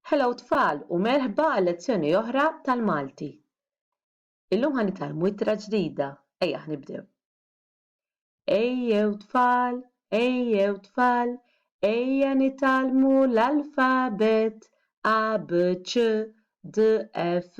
Hello tfal u merħba għal lezzjoni oħra tal-Malti. Illum ħa nitgħallmu ittra ġdida, ejjaħ nibdew. Ejjew tfal, ejjew tfal, ejja nitgħallmu l-alfabet A B C D E F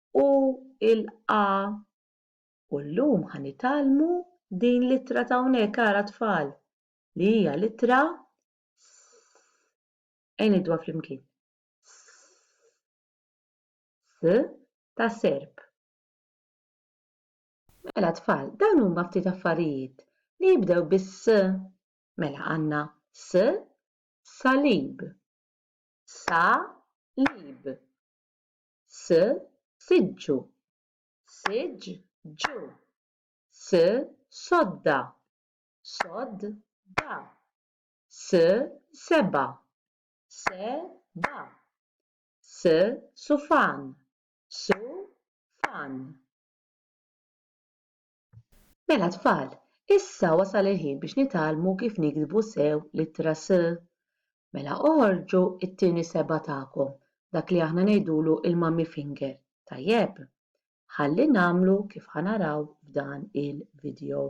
u l-A u llum ħa nitgħallmu din l-ittra ta' hawnhekk ara tfal li hija l-ittra s. Ejn ngħiduha flimkien. S ta' serp. Mela tfal, dawn huma ftit affarijiet li jibdew bis-s. Mela għandna s salib. Sa lib. s siġġu siġġ ġu s sodda sodd da s seba se ba s sufan su fan Mela tfal, issa wasal il-ħin biex nitgħallmu kif niktbu sew l-ittra s. Mela oħorġu t-tieni seba' tagħkom, dak li aħna ngħidulu l-mummy finger, tajjeb? Ħalli nagħmlu kif ħa naraw f'dan il-vidjow.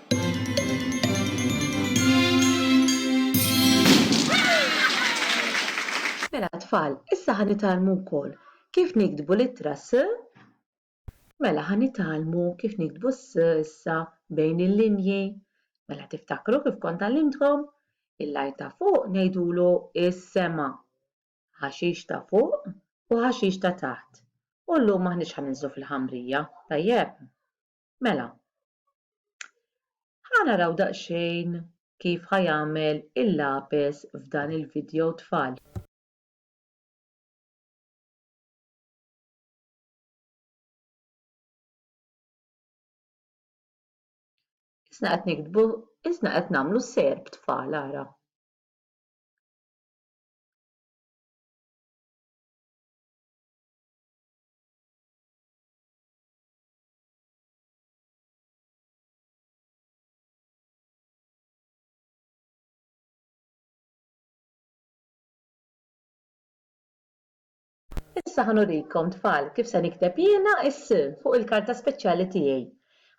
Mela tfal, issa ħa nitgħallmu wkoll kif niktbu l-ittra s. Mela ħa nitgħallmu kif niktbu s issa bejn il-linji. Mela tiftakru kif kont għallimtkom? Il-lajt ta' fuq ngħidulu is-sema, ħaxix ta' fuq u ħaxix ta' taħt. U llum m'aħniex ħa ninżlu fil-ħamrija, tajjeb? Mela, ħa naraw daqsxejn kif ħa jagħmel il-lapes f'dan il-vidjow tfal. Isna qed niktbu, isna qed nagħmlu serb tfal ara. Issa ħa nurikom tfal kif se nikteb jiena s fuq il-karta speċjali tiegħi.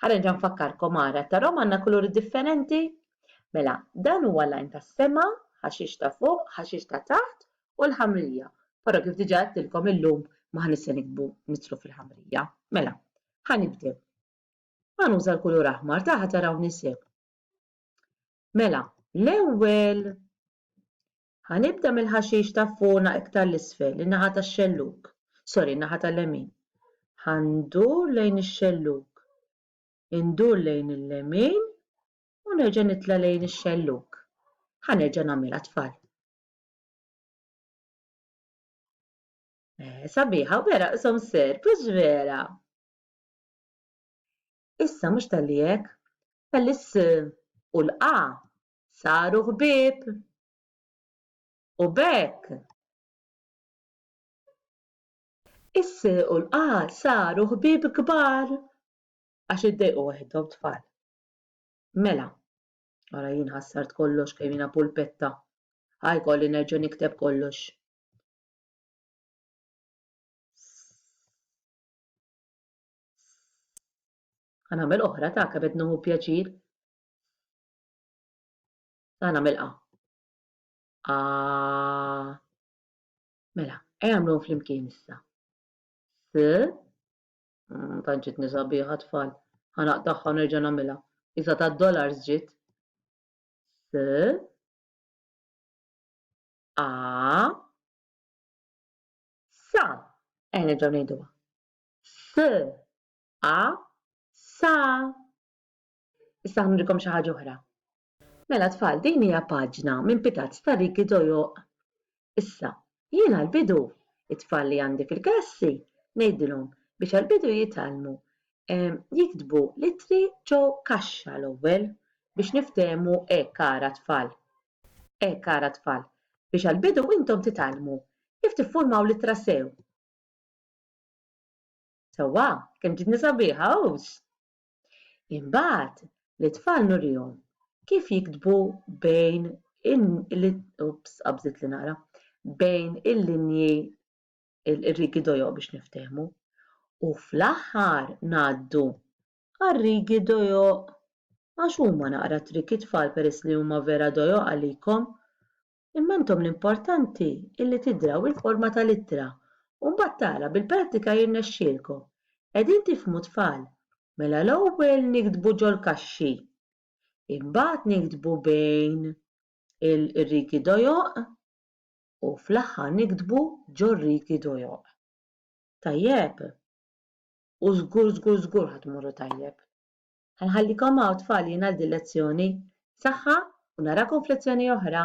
Ħa nerġa' nfakkarkom ara tarhom għandna kuluri differenti? Mela, dan huwa l-għajn tas-sema, ħaxix ta' fuq, ħaxix ta' taħt u l-ħamrija. Però kif diġà għedtilkom illum m'aħniex se niktbu nidħlu fil-ħamrija. Mela, ħa nibdew. Ħa nuża l-kulur aħmar, ta' ħa tarawni sew. Mela, l-ewwel ħa nibda mill-ħaxix ta' fuqna iktar l-isfel, in-naħa tax-xellug. Sorry, in-naħa tal-lemin. Ħa ndur lejn ix-xellug indur lejn il-lemin u nerġa' nitla' lejn ix-xellug. Ħa nerġa' nagħmilha tfal. Eh, sabiħa, vera, qsom ser, biex vera. Issa mhux tal-li hekk, tal-is u l-qa saru ħbieb. U bekk. Is u l-qa saru ħbieb kbar għax iddejqu waħedhom tfal. Mela, Ara jien ħassart kollox kemm jiena pulpetta. Ħa jkolli nerġa' nikteb kollox. Ħa nagħmel oħra ta' kebed nuhu pjaċir. Ħa nagħmel qa. A. Mela, ejja nagħmluhom flimkien issa. S. Mm, tant ġitni sabiħa tfal. Ħanaq tagħha u nerġa' nagħmilha. Isa ta' dollars ġiet. S A Sa. Eh nerġgħu ngħiduha. S A Sa. Issa ħnurikom xi ħaġa oħra. Mela tfal din hija paġna minn pitazz ta' Ricky Dojoq. Issa, jien għall-bidu, it-tfal li għandi fil-klassi ngħidilhom biex għall-bidu jitgħallmu jiktbu l-ittri ġo kaxxa l-ewwel biex niftehmu hekk ara tfal. Hekk ara tfal, biex għall-bidu intom titgħallmu kif tiffurmaw l-ittra sew. Sewwa, kemm ġietni sabiħa, hux? Imbagħad, lit-tfal nurihom kif jiktbu bejn oops qabżiet li naqra, bejn il-linji r-riegi dojo biex niftehmu, u fl-aħħar ngħaddu għar-riegi dojo għax huma naqra triki tfal peress li huma vera dojo għalikom Imma intom l-importanti illi tidraw il-forma tal-ittra u mbagħad tara bil-prattika jirnexxielkom. Qegħdin tifhmu tfal? Mela l-ewwel niktbu ġol-kaxxi. Imbagħad niktbu bejn ir-rigi dojoq u fl-aħħar niktbu ġor-rigi dojoq. Tajjeb? U żgur żgur żgur ħa tmorru tajjeb. Ħa nħallikom hawn tfal jien għal din lezzjoni. Saħħa u narakom f'lezzjoni oħra!